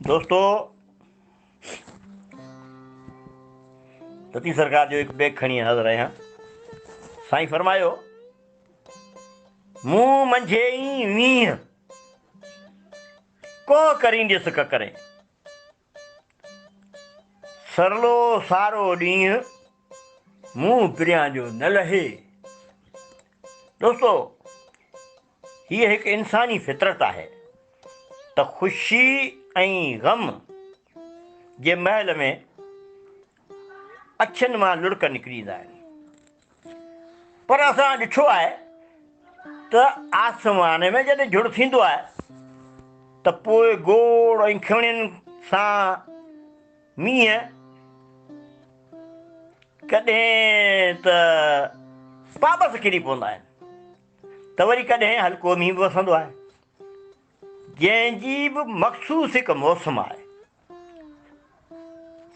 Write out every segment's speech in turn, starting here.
دوستو تتي سرڪار جو هڪ بيگ کڻي حاضر آهيان سائين فرمايو مون منجھي ئي وينهن ڪو ڪرين ڏس ڪڪرين سرلو سارو ڏينهن منهن پريان جو نه لهي. دوستو هيء هڪ انساني فطرت آهي ته خوشي ۽ غم جي مهل ۾ اکين مان لڙڪ نڪري ايندا آهن پر اسان ڏٺو آهي ته آسمان ۾ جڏهن جھڙ ٿيندو آهي ته پوء گوڙ ۽ کڻين سان مينهن ڪڏهن ته پابس ڪري پوندا آهن ته وري ڪڏهن هلڪو مينهن به وسندو آهي جنهن جي به مخصوص هڪ موسم آهي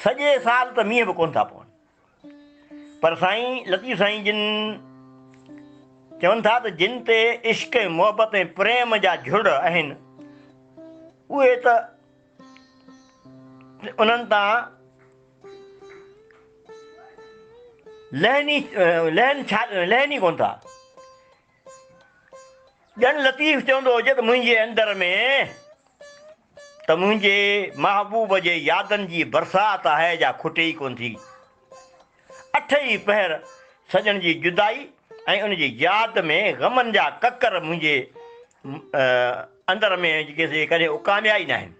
سڄي سال ته مينهن به ڪونه ٿا پون پر سائين لطيف سائين جن چون ٿا ته جن تي عشق ۽ محبت ۽ پريم جا جھڙ آهن اهي ته انهن تان لهني لهن لهن ئي ڪونه ٿا ڄڻ لطيف چوندو هجي ته منهنجي اندر ۾ ته منهنجي محبوب جي يادن جي برسات آهي جا کٽي ئي ڪونه ٿي. اٺ ئي پهر سڄڻ جي جدائي ۽ ان جي ياد ۾ غمن جا ڪڪر منهنجي اندر ۾ ڪڏهن اڪاميا ئي ناهن.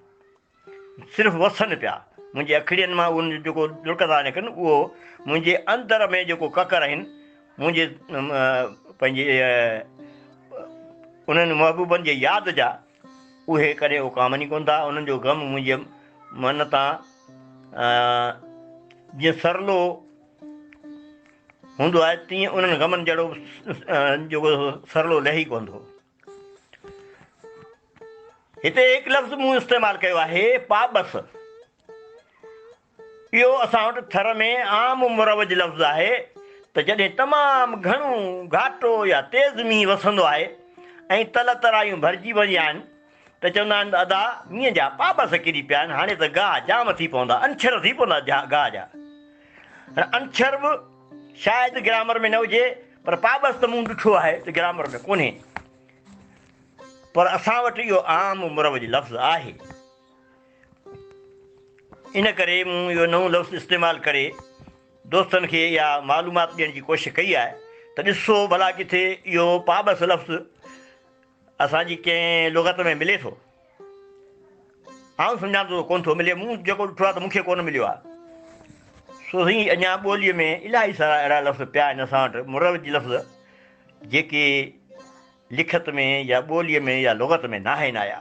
صرف وسن پيا، منهنجي اکڙين مان اهن جو جيڪو ڏڙڪندا آهن اکر اهو منهنجي اندر ۾ جيڪو ڪڪر آهن منهنجي پنهنجي انهن محبوبن جي ياد جا اهي ڪڏهن اڪامني ڪونه ٿا انهن جو غم منهنجي من تان جيئن سرلو هوندو آهي تيئن انهن غمن جهڙو جيڪو سرلو لهي ڪونه ٿو. هتي هڪ لفظ مون استعمال ڪيو آهي پابس اهو اسان وٽ ٿر ۾ عام مروج لفظ آهي ته جڏهن تمام گهڻو گهاٽو يا تيز مينهن وسندو آهي ۽ تل ترايون ڀرجي وينديون آهن ته چوندا آهن ادا مينهن جا پابس ڪري پيا آهن هاڻي ته گاهه جام ٿي پوندا انڇر ٿي پوندا گاهه جا هاڻ انڇر به شايد گرامر ۾ نه هجي پر پابس ته مون ڏٺو آهي ته گرامر ۾ ڪونهي، پر اسان وٽ اهو عام مروج لفظ آهي، ان ڪري مون اهو نئون لفظ استعمال ڪري دوستن کي اها معلومات ڏيڻ جي ڪوشش ڪئي آهي ته ڏسو ڀلا ڪٿي اهو پابس لفظ اسان جي ڪنهن لغت ۾ ملي ٿو؟ آئون سمجهان ٿو ته ڪونه ٿو ملي، مون جيڪو ڏٺو آهي ته مون کي ڪونه مليو آهي. سو سائين اڃا ٻوليء ۾ الائي سارا اهڙا لفظ پيا آهن اسان وٽ مروج لفظ جيڪي لکت ۾ يا ٻوليء ۾ يا لغت ۾ ناهن آيا.